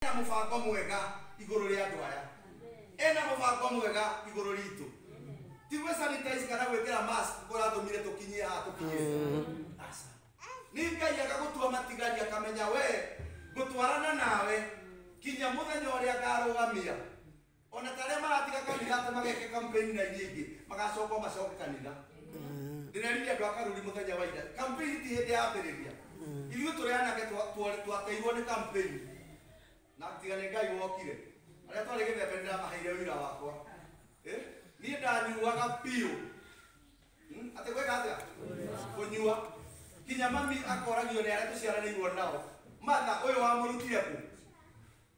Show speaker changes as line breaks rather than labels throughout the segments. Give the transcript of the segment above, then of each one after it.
Ena mũbango mwega igũrũ rĩa andũ aya. Ena mũbango mwega igũrũ ritũ. Ti gwĩ sanitize kana gwĩkĩra mask kũratũmire tũkinyie haha tũkinyĩte. Aca. Nĩ Ngai agagũtua matigari akamenya we ngũtwarana nawe kinya mũthenya ũrĩa ngarũgamia o na ta arĩa maratiga kanitha atĩ mageke kampeni na iria ingĩ magacoka macoke kanitha ndĩrerire andũ a karuri mũthenya wa ira kampeni ti hĩndĩ yambĩrĩria ithuĩ tũrĩ anake twa- twa- twateirwo nĩ kampeni na tiga nĩ ngai wokire arĩa twarĩ gĩthembe ndĩramaheire wĩra wakwa Eh? niĩ ndanyuaga biũ Hmm? atĩ gwĩka atĩa kũnyua kinya mami akoragio nĩ arĩa tũciaranĩirwo nao matha ũyũ wamũrutire kũ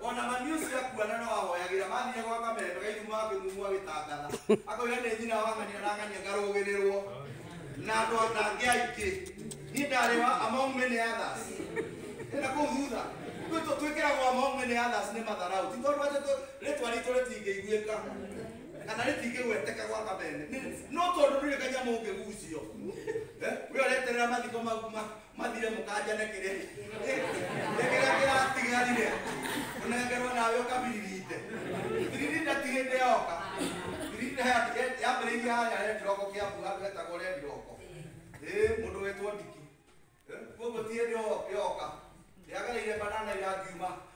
ona mami ũcio akuona no ahoyagĩra mathire gwa kameme gaithu makĩmumu agĩtangatha akoiga nĩ nyina wang'ania arang'ania ngarũgĩrĩrwo na andũ atangĩ aingĩ niĩ ndarĩ wa among many others ĩna kũu thutha Ithuĩ tũ- twĩkĩragwo among many others nĩ matharau ti tondũ atĩ tũ- rĩtwa ritũ rĩtingĩiguĩka kana rĩtingĩgweteka gwa kameme Nĩ- no tondũ ndũrĩ kanyamũ ũngĩgucio Eh, we ũreterera mathiko ma- ma- mathire mũkanja nĩ kĩrĩ nĩ kĩrĩa kĩratigarire ũnengerwo nawe ũkabiririte biririta ti hĩndĩ yoka biririta yambĩrĩirie harĩa rĩa kĩroko kĩa mbura andũ etagwo rĩa kĩroko ĩ mũndũ wetwo ndiki Eh, kuoguo ti hĩndĩ yo- yoka yagereire banana irangiuma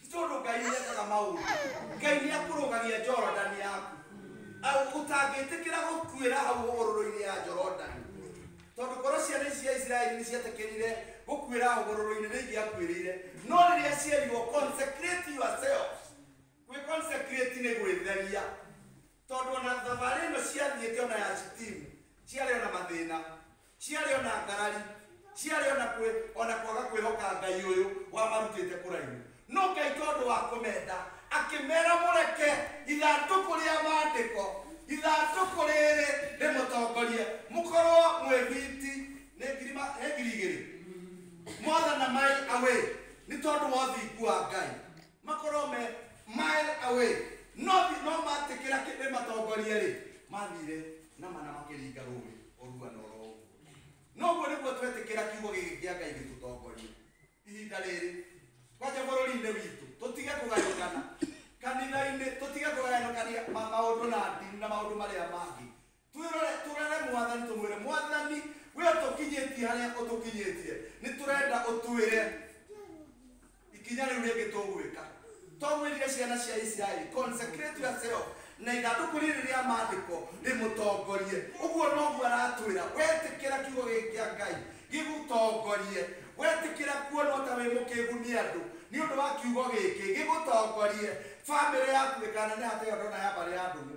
Nĩ tondũ Ngai nĩ ekaga maũndũ. Ngai nĩ akũrũgagia Jorodani yaku. Au- Ũtangĩtĩkĩra gũkuĩra hau hũgũrũrũ-inĩ ya Jorodani. Tondũ korwo ciana ici cia Isiraeli nĩ cietĩkĩrire gũkuĩra hũgũrũrũ-inĩ nĩ ingĩakuĩrĩire. No rĩrĩa cierirwo consecrate yourselves. Gwĩ consecrate nĩ gwĩtheria. Tondũ ona thabarĩ ĩno ciathiĩte ona ya Shitimu, ciarĩ ona mathĩna. ciarĩ ona ngarari ciarĩ ona kwĩ ona kwaga kwĩhoka ngai ũyũ wamarutĩte kũraihu no ngai tondũ wa kũmenda akĩmera mũreke ithandũkũ rĩa maandĩko ithandũkũ rĩrĩ rĩmũtongorie mũkorwo mwĩ biti nĩ ngiri ma- nĩ ngiri igĩrĩ more than a mile away nĩ tondũ wa ũthingu wa ngai makorwo me mile away no ti no matĩkĩra kĩndĩ matongorie rĩ mathire na mana makĩringa rũĩ orua na oro ũguo noguo nĩguo twetĩkĩra kiugo gĩkĩ kĩa ngai gĩtũtongorie ihinda rĩrĩ kwanja bũrũri-inĩ witũ tũtige kũgayũkana kanitha-inĩ tũtige kũgayũkania ma- maũndũ na ndini na maũndũ marĩa mangĩ Twĩrore, tũrere Mwathani, tũmwĩre, Mwathani, we ũtũkinyĩtie harĩa ũtũkinyĩtie, nĩ tũrenda ũtwĩre ikinya rĩu rĩngĩ tũgwĩka. To mwĩrire ciana cia Isiraeli, consecrate yourself, na ithandũkũ rĩrĩ rĩa maandĩko rĩmũtongorie. Ũguo noguo aratwĩra, wetĩkĩra kiugo gĩkĩ kĩa Ngai gĩgũtongorie, wetĩkĩra kuonwo ta wĩ mũkĩgu nĩ andũ nĩ ũndũ wa kiugo gĩkĩ gĩgũtongorie, famĩlĩ yaku ĩkaneneha ta ĩyo ndona ya mbarĩ ya ndũgũ.